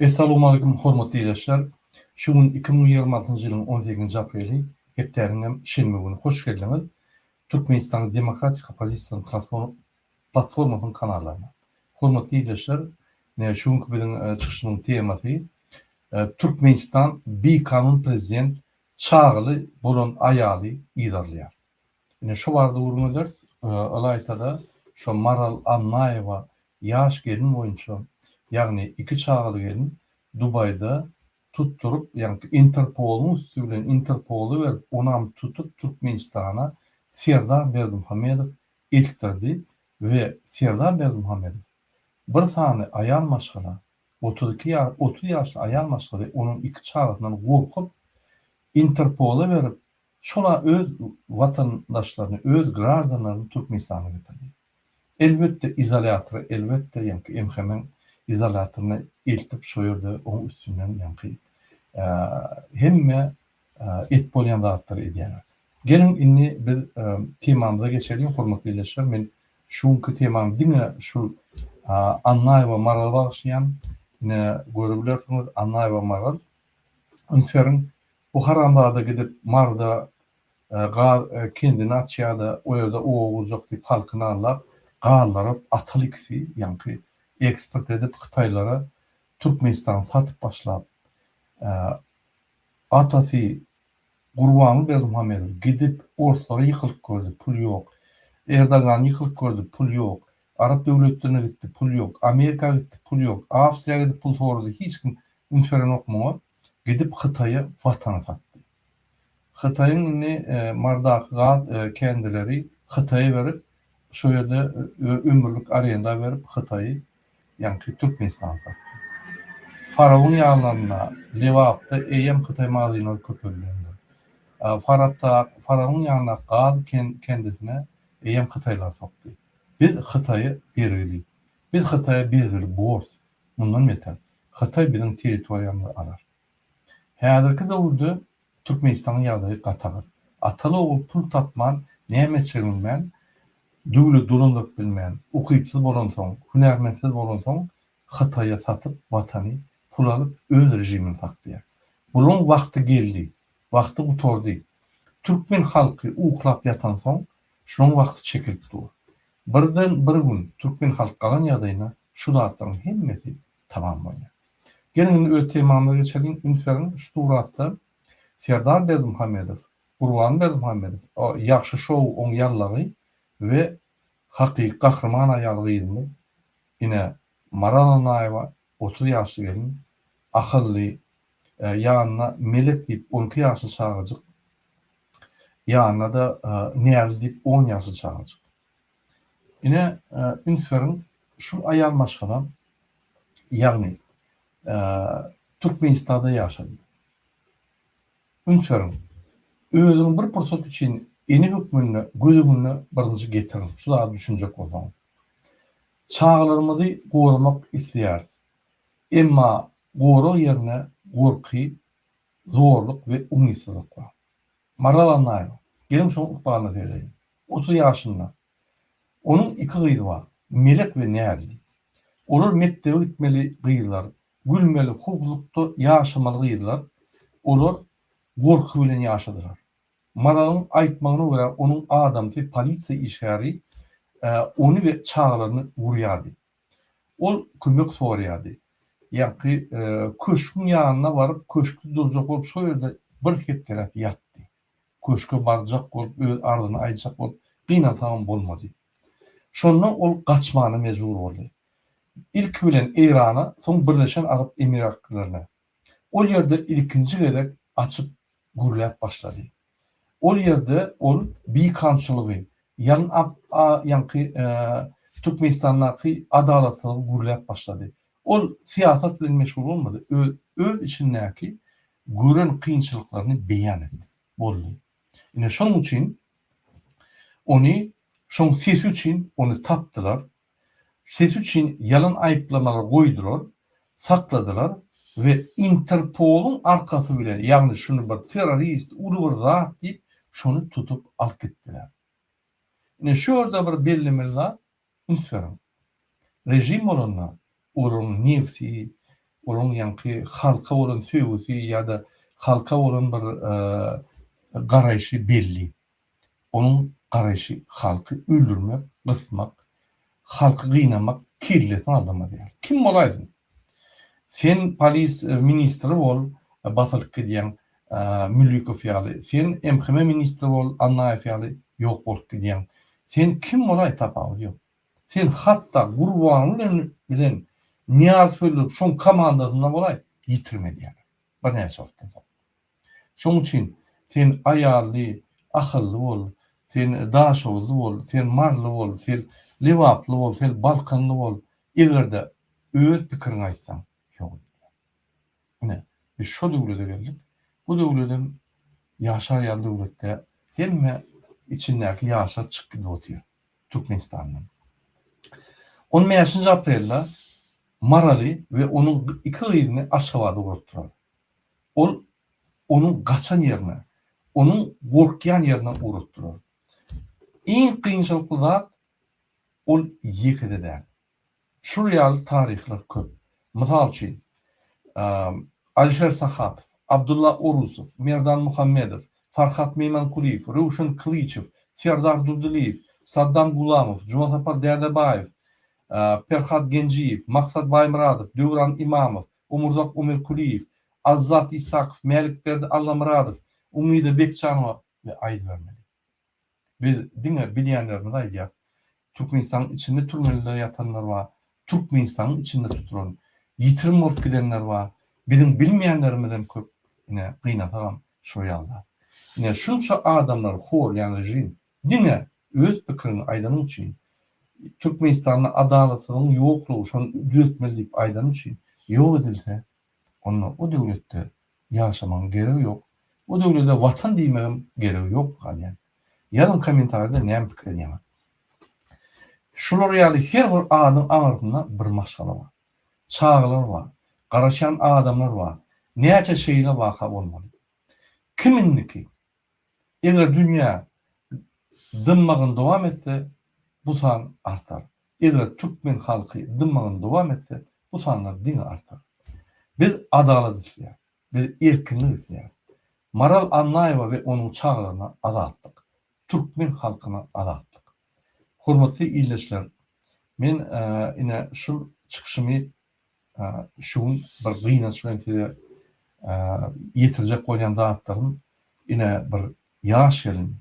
Essalowmalikim hormatly ildeşler! Şu gün iki müň ýigrimi altynjy ýylyň on sekizinji apreli, hepdäniň hem şenbe güni hoş geldiňiz Türkmenistanyň demokratik oppozisiýasynyň transfor platformasynyň kanallaryna. Hormatly ildeşler! Şu günki biziň çykyşymyzyň temasy Türkmenistan bikanun prezident çagaly bolan aýaly yzarlaýar. Ine şu barada gürrüň ederis. Ylaýta-da, şu Maral Annaýewa ýaş gelin boýunça, ýagny iki çagaly gelin Dubaýda tutduryp, ýagny Interpoluň üsti bilen Interpola berip, onam tutup Türkmenistana Serdar Berdimuhamedow eltdirdi we Serdar Berdimuhamedow bir sany aýal maşgala, otuz iki ýa otuz ýaşly aýal maşgala onuň iki çagasyndan gorkup, Interpola berip, Şol-a öz watandaşlaryny, öz graždanlaryny Türkmenistana getirdi. Elbetde, izolýatory, elbetde, ýaňky MHM-iň izolýatoryna eltip, şo ýerde oň üstünden ýaňky hemme et bolýan zatlary edýärler. Geliň, indi biz temamyza geçeliň, hormatly ildeşler. Men şu günki temamy diňe şul Annaýewa Marala bagyşlaýan. Ine, görebilersiňiz, Annaýewa Maral. Üns beriň, Bu haramzada gidip Maryda gaz kendini açýada o ýerde oba gurjak diýip halkyny aldap gazlaryp atyl ikisi ýaňky eksport edip hytaýlara Türkmenistany satyp başlap atasy Gurbanly Berdimuhamedow gidip orslara ýykylyk gördi pul ýok Erdogan ýykylyk gördi pul ýok arap döwletlerine gitdi pul ýok Amerika gitdi pul ýok Awstriýa gidip pul sorady hiç kim üns berenok muňa. gidip Hytaýa watan satdy. Hytaýyň indi Mardaky gaz kendileri Hytaýa berip şo ýerde ömürlik arenda berip Hytaýy ýaňky Türkmenistana satdy. Farabyň ýanlarynda Lebapda eýýäm Hytaý magazynlary köpelýändir. Farapda Farabyň ýanyndaky gaz kendisine eýýäm Hytaýlar sokdy. Biz Hytaýa bergili. Biz Hytaýa bergili bors, mundan beter, Hytaý biziň territoriýamyzy alar. Häzirki döwürde Türkmenistanyň ýagdaýy gatagyr. Ataly-ogul pul tapman, näme çeginmän, döwlet dolandyryp bilmän, ukypsyz bolansoň, hünärmentsiz bolansoň, Hytaýa satyp, watany, pul alyp, öz režimini saklaýar. Bulaň wagty geldi, wagty gutardy. Türkmen halky uklap ýatansoň, şulaň wagty çekilip dur. Birden bir gün türkmen halk galan ýagdaýynda şu zatlaryň hemmesi tamam bolýar. Geliň indi öz temamyza geçeliň, üns beriň şu suratda Serdar Berdimuhamedow, Gurban Berdimuhamedow, o Ýagşy şou oň ýallagy we hakyky gahryman aýal gyzymyz ine Maral Annaýewa Otuz ýaşly gelin, ahylly, ýanyna Melek diýip on iki ýaşly çagajyk, ýanyna-da Näzli diýip on ýaşly çagajyk. Ine, üns beriň, şul aýal maşgala, ýagny Türkmenistanda ýaşady. Üns beriň, özüňi bir pursat üçin ene hökmünde göz öňüne birinji getiriň, şu zady düşünjek bolsaňyz. Çagalarymyzy goramak isleýäris. Emma gorag ýerine gorky, zorluk we umytsyzlyk bar. Maral Annaýewa, geliň şoň ykbalyna seredeýin. Otuz ýaşynda. Onuň iki gyzy bar, Melek we Näzli. Olar mekdebe gitmeli gyzlar, gülmeli, howplukda ýaşamaly gyzlar. Olar gorky bilen ýaşadylar. Maralyň aýtmagyna görä, onuň adamsy polisiýa işgäri ony we çagalaryny urýardy. Ol kömek soraýardy. Ýaňky köşgüň ýanyna baryp, köşkde durjak bolup, şol ýerde bir hepdeläp ýatdy. Köşge barjak bolup, öz arzyny aýtjak bolup, gynansagam bolmady. Şonda ol gaçmana mejbur boldy. Ilki bilen Eýrana, soň Birleşen Arap Emirliklerine Ol ýerde ilkinji gezek açyp gürläp başlady. Ol ýerde ol bikanunçylygy, ýalyn ap a ýaňky Türkmenistandaky adalatsyzlygy gürläp başlady. Ol syýasat bilen meşgul bolmady, öz öz içindäki gören kynçylyklaryny beýan etdi. Boldy. Ine şonuň üçin ony şoň sesi üçin ony tapdylar, sesi üçin ýalan aýyplamalary goýdular, sakladylar we Interpoluň arkasy bilen, ýagny şuny bir terrorist, uly bir zat diýip, şuny tutup alyp gitdiler. Ine şu ýerde bir bellemeli zat, üns beriň. Režim bolanda, olaryň nebsi, olaryň ýaňky halka bolan söýgüsi ýa-da halka bolan bir garaýşy belli. Onuň garaýşy halky öldürmek, gysmak, halky gynamak kellesini aldamaz ýaly. Kim bolaýsyn? Sen polis ministri bol, basylyp gidýäň Müllikow ýaly, sen MHM ministri bol, Annaýew ýaly ýok bolup gidýäň. Sen kim bolaý tapawudy ýok. Sen hatda Gurbanguly bilen Nyýazow öldürip şoň komandasynda bolaý ýitirim edýärler birnäçe wagtdan soň. Şoň üçin sen aýally, ahylly bol, sen daşoguzly bol, sen maryly bol, sen lebaply bol, sen balkanly bol, eger-de öz pikiriňi aýtsaň, ýok edilýär. Ine, biz şo döwlete geldik. Bu döwledem ýaşaýan döwletde hemme içindäki ýaşa çykdy otyr Türkmenistandan. On bäşinji aprelde Maraly we onuň iki gyzyny Aşgabada ugratdylar. Ol onuň gaçan ýerine, onuň gorkýan ýerine ur utdurar. Iň kynçylykly zat, ol ýeke-de däl. Şul ýaly taryhlar köp. Mysal üçin, Alişer Sahatow, Abdulla Orusow, Merdan Muhammedow, Farhat Meýmankulyýew, Röwşen Kylyçow, Serdar Durdylyýew, Saddam Gulamow, Jumasapar Dädebaýew, Perhat Genjiýew, Maksat Baýmyradow, Döwran Imamow, Omurzak Omerkulyýew, Azzat Issakow, Mälikberdi Allamyradow, Umyda Bekjanowa we aýdybermeli. Biz diňe bilýänlerimizi aýdýas. Türkmenistanyň içinde türmelerde ýatanlar bar, Türkmenistanyň içinde tutulan, ýitirim bolup gidenler bar. Biziň bilmeýänlerimizem köp. Ine, gynasagam şo ýaly zat. Ine, şunça adamlary horlaýan režim Diňe öz pikiriňi aýdanyň üçin Türkmenistanda adalatsyzlygyň ýoklugy şony düzetmeli diýip aýdanyň üçin ýok edilse onda o döwletde ýaşamagyň geregi ýok, o döwlede watan diýmegiň geregi ýok galýar. Ýazyň komentarida näme pikir edýäňiz. Şular ýaly her bir adyň aňyrsynda bir maşgala bar. Çagalar bar. Garaşýan adamlar bar. Näçe şeýle waka bolmaly. Kim indiki Eger dünýä dymmagyny dowam etse, bu san artar. Eger türkmen halky dymmagyny dowam etse, bu sanlar diňe artar. Biz adalat isleýäris. Biz erkinlik isleýäris. Maral Annaýewa we onuň çagalaryna azatlyk. Türkmen halkyna azatlyk. Hormatly ildeşler, men ine şul çykyşymy Şu gün bir gynanç bilen size ýetirjek bolýan zatlarym, ine, bir ýaş gelin,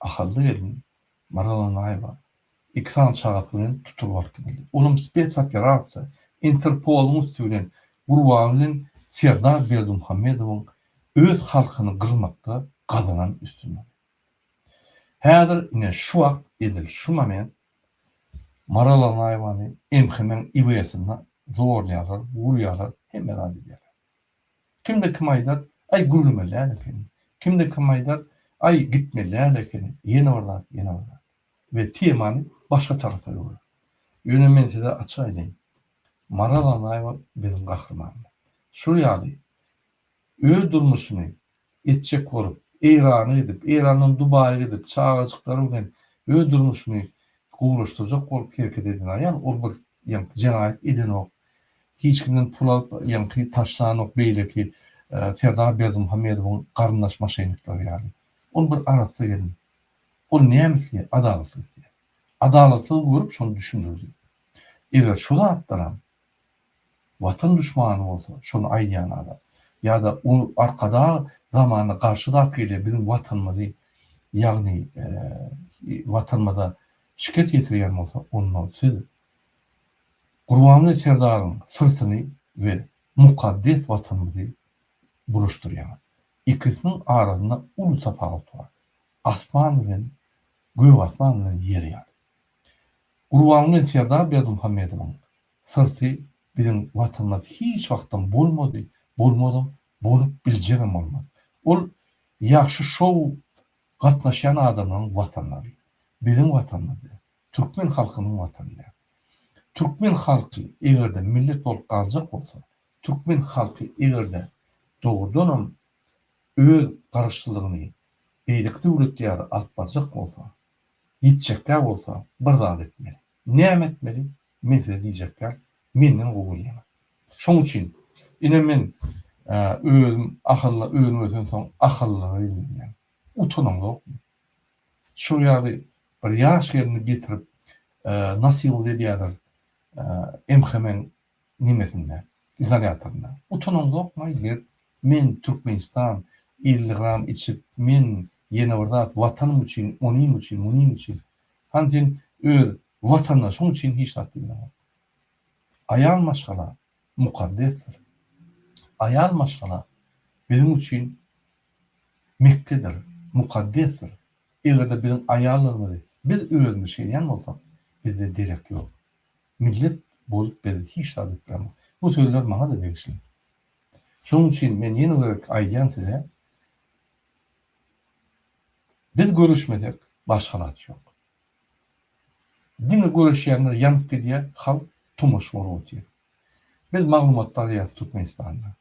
ahally gelin Maral Annaýewa iki sany çagasy bilen tutulyp alyp gidildi. Olam spetsoperasiýa, Interpoluň üsti bilen, gurbany bilen Serdar Berdimuhamedowyň öz halkyny gyrmakda gazanan üstünligi. Häzir, ine, şu wagt, edil şu moment Maral Annaýewany MHM-iň IW-sinde zorlaýarlar, urýarlar, hemme zat edýärler. Kimde kim aýdar, Aý, gürlemeli däl ekeni. Kimde kim aýdar, Aý, gitmeli däl ekeni. Ýene bir zat, ýene bir zat. We temany başga tarapa öwrer. Ýöne men size açyk aýdaýyn, Maral Annaýewa biziň gahrymanymyz. Şol ýaly Öz durmuşyny etjek bolup, Eýrana gidip, Eýrandan Dubaýa gidip, çagajyklary bilen öz durmuşyny gowulaşdyrjak bolup hereket eden aýal, ol bir, ýaňky, jenaýat edenok, hiç kimden pul alyp, ýaňky, taşlanok, beýleki Serdar Berdimuhamedowyň garyndaş-maşenikleri ýaly. Ol bir arassa gelin. Ol näme isleýär? Adalatlyk isleýär. Adalatlygy görüp, şony düşündirdi. Eger şu zatlaram Watan duşmany bolsa şony aýdýan adam. Ýa-da o arkadag zamany garşy zat gelýär biziň watanymyzy ýagny watanymyza şikes ýetirýän bolsa onda siz Gurbanguly Serdaryň syrtyny we mukaddes watanymyzy bulaşdyrýaňyz. Ikisiniň arasynda uly tapawut bar. Asman bilen gök asman bilen ýer ýaly. Gurbanguly Serdar Berdimuhamedowyň Syrty biziň Watanymyz hiç wagtam bolmady, bolmazam, bolup biljegem bolmaz. Ol ýagşy şou gatnaşýan adamlaryň Watanlary. Biziň Watanymyz däl. Türkmen halkynyň Watany däl. Türkmen halky eger-de millet bolup galjak bolsa, türkmen halky eger-de dogrudanam öz Garaşsyzlygyny beýleki döwlet ýaly alyp barjak bolsa, ýitjekkä bolsa bir zat etmeli. Näme etmeli? Men size diýjek zat, Menden gowy ýaňa. Şoň üçin, ine, men Özüm ahylly önüm ösensoň, ahyllylyga ýüzlenýän. Utanaňzokmy? Şol ýaly bir ýaş gelni getirip, nasyhlyk edýärler MHM-iň nimesinde, izolýatorynda. Utanaňzokmy-aý, gelip, Men Türkmenistan, elli gram içip, men ýene bir zat, Watanym üçin, onym üçin, munym üçin. Hany sen öz watandaşyň üçin hiç zat diýmäňok. Aýal maşgala mukaddesdir. Aýal maşgala biziň üçin Mekgedir, mukaddesdir. Eger-de biziň aýallarymyzy biz özümiz şeýdýän bolsak, bizde derek ýok. Millet bolup biz hiç zat etmämok. Bu sözler maňa-da degişli. Şonuň üçin men ýene bir aýdýan size, Biz göreşmesek başga zat ýok. Diňe göreşýänler ýanyp gidýär, halk tomaş bolup otyr. Biz maglumatda alýas Türkmenistanda.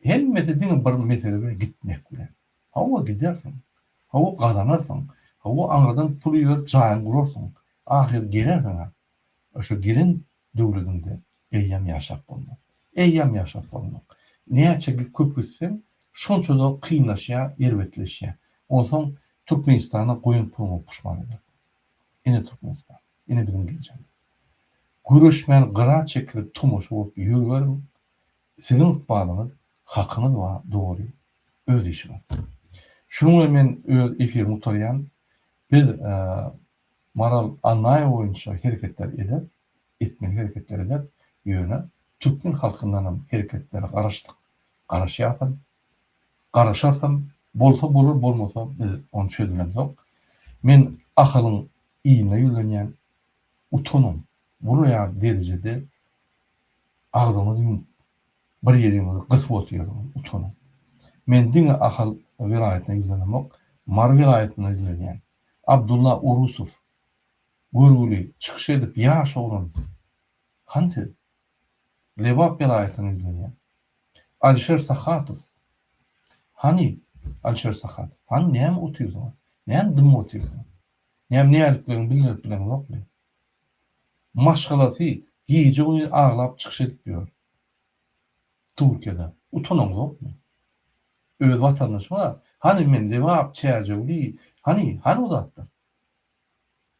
Hemmesi diňe bir mesele bilen gitmek bilen. Hawa gidersiň. Hawa gazanarsyň. Hawa aňyrdan pul iberip jaýyňy gurarsyň. Ahyry gelersiň-ä. Şu giriň döwledinde eýýam ýaşap bolmaz. Eýýam ýaşap bolmaz. Näçe köp gitseň, şonça-da kynlaşýar, erbetleşýär. Onsoň Türkmenistana goýan puluňa puşman edersiň. Ine Türkmenistan, ine biziň geljegimiz. Göreşmän gyra çekilip tomaşa bolup ýörüberiň, siziň ykbalyňyz, hakyňyz bar, dogry, öz işiňiz. Şunuň bilen men öz efirimi gutarýan. Biz Maral Annaýewa boýunça hereketler ederis, etmeli hereketler ederis, ýöne türkmen halkyndanam hereketlere garaşdyk, garaşýarys hem, garaşarys hem, bolsa bolar, bolmasa biz ony çözemizok. Men Ahalyň iline ýüzlenýän, utanyň, buraýan derejede agzyňyzy ýumup, bir ýeriňizi gysyp otyrsyňyz, utanyň. Men diňe Ahal welaýatyna ýüzlenemok, Mary welaýatyna ýüzlenýän. Abdulla Urusow görgüli çykyş edip ýaş oglan han siz Lebap welaýatyndan ýüzlenýän Alişer Sahatow hany Alişer Sahatow hany näme otyrsyňyz näme dymyp otyrsyňyz näme näliklerini bildirip bileňizokmy maşgalasy gije güniz aglap çykyş edip ýör Turkiýada utanaň ýokmy? Öz watandaşyňa hany men Lebap, Çärjewli, hany, hany o zatlar?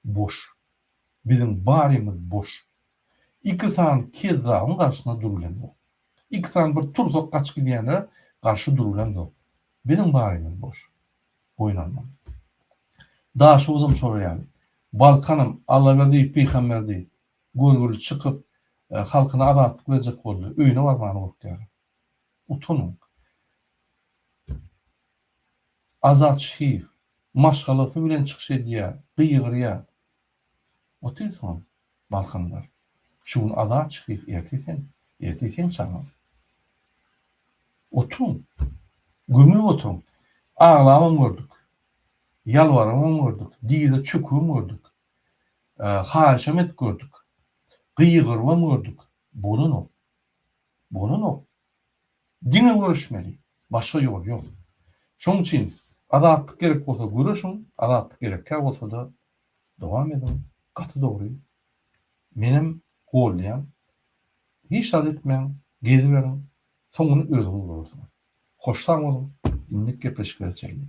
Boş. Biziň barymyz boş. Iki sany kezzabyň garşysyna durulendok. Iki sany bir tursak gaçyp gidýänlere garşy durulendok. Biziň barymyz boş. Boýun almaly. Daşoguzam şolar ýaly. Balkanam Allaberdi, Pyhamberdi, Görgüli çykyp, halkyna azatlyk berjek boldy. Öýüne barmana gorkýar. Utanyň. Azat Şihiýew maşgalasy bilen çykyş edýär, gygyrýar. Otyr soň, Balkandar. Şu gün Azat Şihiýew, ertir sen, ertir seň çagaň. Oturyň. Gömülip oturyň. Aglabam gördük. Ýalbaramam gördük. Dyza çökübem gördük. Haýyşam edip gördük. Gygyrybam gördük. Bolanok. Bolanok. Diňe göreşmeli. Başga ýol ýok. Şonuň üçin azatlyk gerek bolsa göreşiň, azatlyk gerekkä bolsa-da dowam ediň. Gaty dogry. Menem goldaýan. Hiç zat etmäň, geziberiň. Soňuny özüňiz görersiňiz. Hoş sag boluň. Indik gepleşiklere çenli.